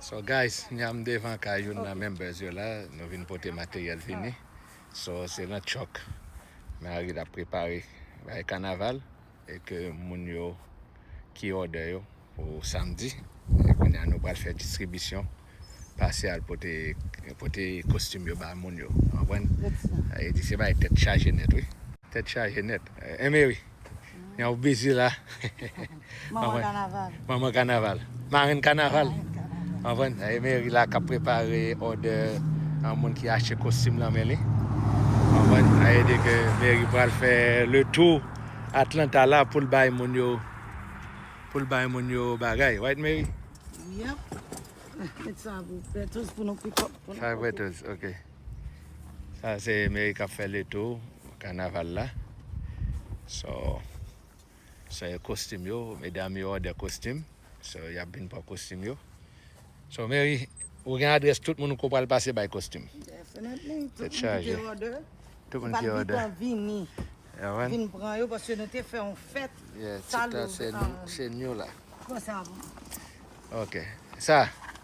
So guys nyam devan kay youn nan members yo la nou vin pote materyèl vini so se nan chòk Marie lap prepare bay kanaval e ke moun yo ki òdè yo pou samdi e kounya nou pral fè distribisyon pase al pote pote kostim yo ba moun yo ou konprann e di se bagay tèt chaje nèt wi. Tèt chaje nèt eh Mary. Gen yon bezi la. Manman kanaval. Manman kanaval. Marenn kanaval. Anvan, e Meri la kap prepare odè an moun ki achte kostim nan men li. Anvan, a e de ke Meri pral fè le tou Atlanta la pou l bay moun yo pou l bay moun yo bagay. Right Meri? Yep. Met sa pou petos pou nou pikòp. Sa pou petos, ok. Sa se meri kap fè le tou kanaval la So Sa e kostim yo Medam yo òdè kostim So yap vin pran kostim yo So meri ou gen adrès tout moun ko pral pase bay kostim Definitely Tèt chaje Tout moun ki òdè Tout moun ki òdè Vin pran yo paske nou te fè yon fèt Sa louvri Se new la Pran sa pou mwen Ok Sa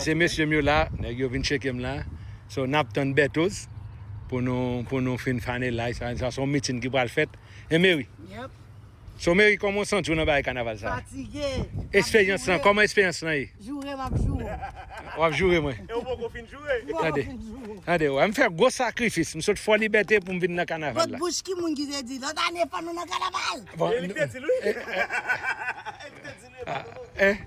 Se mesye m yo la, nèg yo vin tcheke m la, so nap tann Berthoz pou nou pou nou fin fane la, sa se yon meeting ki pral fèt e Mary. Yep. So Mary kòman w santi w nan bagay kanaval sa? Fatige. Esperyans lan, kòman esperyans lan ye? Joure m ap joure w. W ap joure mwen? E ou poko fin joure? M poko fin joure w. Tande w, m fè gwo sakrifis, m sot Fò Libète pou m vin nan kanaval la. Lòt bouch ki moun ki te di, lòt ane fò nou nan kanaval! E li k te di l wi. E li k te di l wi, m pa konnen.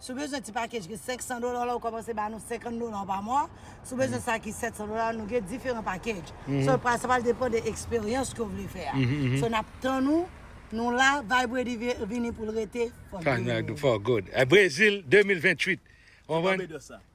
Si w bezwen ti pakej ki 500 dola la, ou kòmanse ba nou 50 dola pa mwa. Si w bezwen sa ki 700 dola la, nou gen diferan pakej. So, sa pral depan de eksperyans ke w vle fè a. So, n ap tann ou. Nou la, Vibe Ready vini pou l rete for good. For good. Brezil 2028. Ou konprann?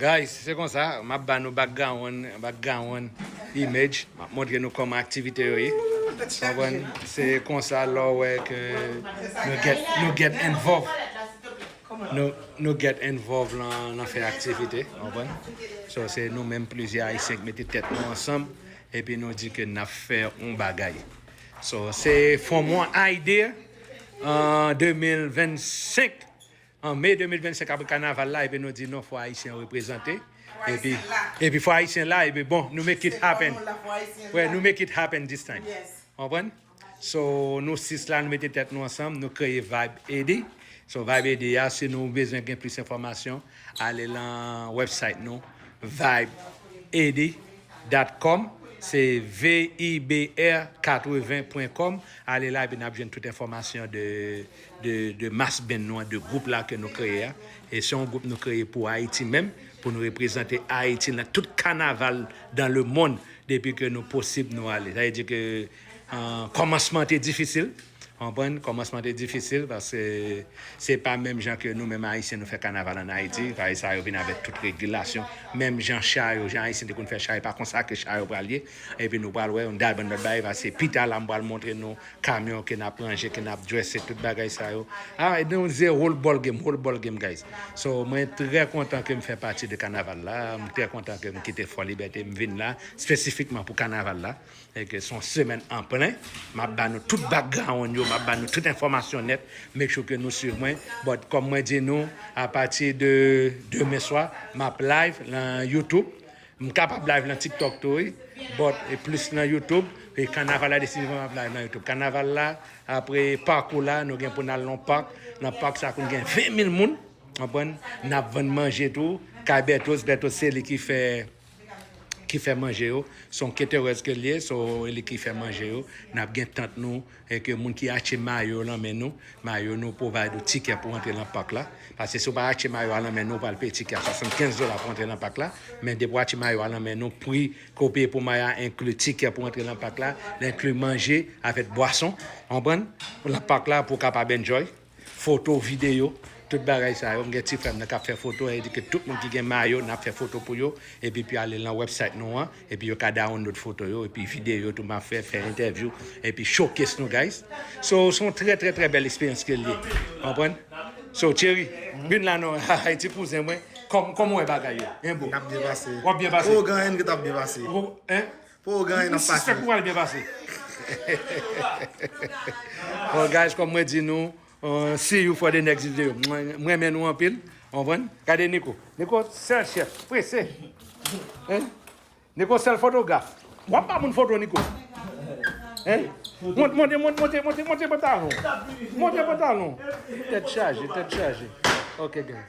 Guys se konsa map ba nou background background image map montre nou kòman aktivite yo ye konprann se konsa lè w wè ke nou get nou get envov nou nou get envov nan fè aktivite konprann so se nou menm plizyè ayisyen k mete tèt nou ansanm epi nou di ke nap fè yon bagay so se from one idea an 2025 An May 2025 apre kanaval la ebyen nou di non fò ayisyen an reprezante epi epi fò ayisyen la epi bon nou make it happen wè nou make it happen this time konprann so nou 6 la nou mete tèt nou ansanm nou kreye vibe ed so vibe ed a si nou bezwen gen plis enfòmasyon ale lan website nou vibeed dat kòm se vibr 80 pwen kòm ale la epi nap jwenn tout enfòmasyon de. de mas benn nou an, de gwoup la ke nou kreye a, e se yon gwoup nou kreye pou Ayiti menm, pou nou reprezante Ayiti nan tout kanaval dan le monn depi ke nou posib nou ale. Sa vle di ke kòmansman an te difisil, ou konprann, kòmansman an te difisil paske se pa menm jan ke nou menm Ayisyen nou fè kanaval an Ayiti, payi sa yo vin avèk tout regilasyon, menm jan cha yo, jan Ayisyen te konn fè cha, e pa konsa ke cha yo pral ye, epi nou pral wè yon dal bann lòt bagay, paske pita la m pral montre nou. Kamyon ke nap ranje, ke nap dresse tout bagay sa yo. Ah ebyen ou ze whole ball game, whole ball game guys. So mwen trè kontan ke m fè pati de kanaval la, m trè kontan ke m kite Fò Libète m vin la spesifikman pou kanaval la e ke son semèn an plen. Map ba nou tout background yo, map ba nou tout enfòmasyon nèt, make sure ke nou swiv mwen. But kòm mwen di nou a pati de demen swa map live lan YouTube. M kapab live nan tiktok tou wi but plis nan youtube e kanaval la desizivman map live nan youtube kanaval la apre pakou la nou gen pou nal nan pak nan pak sa konn gen 20 mil moun konprann nap vann manje tou kay bèthoz bèthoz se li ki fè ki fè manje yo son keterèz ke liye so li ki fè manje yo nap gen tant nou. e ke moun ki achte mayo yo lan men nou, mayo nou provide ou tikè pou antre lan park la, paske si ou pa achte mayo a lan men nou ou pral peye tikè a 75 dola pou antre lan park la, men depi ou achte mayo a lan men nou pri ke ou peye pou mayo a enkli tikè pou antre lan park la, li enkli manje avèk bwason, ou konprann? Lan park la pou ou kapab enjoy. Foto, videyo, tout bagay sa yo. M gen ti frè m nan k ap fè foto, e di ke tout moun ki gen mayo, n ap fè foto pou yo, epi pou yo ale lan wèbsayt nou an, epi yo ka dawonlod foto yo, epi videyo tou m ap fè, fè entèvyou, epi showcase nou guys. So, se yon trè trè trè bèl esperyans ke l ye. Ou konprann? So, Thierry, vin la non, hahay, ti kouzen mwen, kòman ou wè bagay yo? Hein bro? N ap byen pase. W ap byen pase? Ougan en nou ta byen pase. Ou, hein? Pou ou genyen nan pati. Li sispèk ou pral byen pase. Bon guys kom mwen di nou see you for the next video m renmen nou anpil konprann gade Nico Nico sèl chèf prese hein Nico sèl fotograf wap ba moun foto Nico hein monte monte monte monte monte pantalon monte pantalon tèt chaje tèt chaje ok guys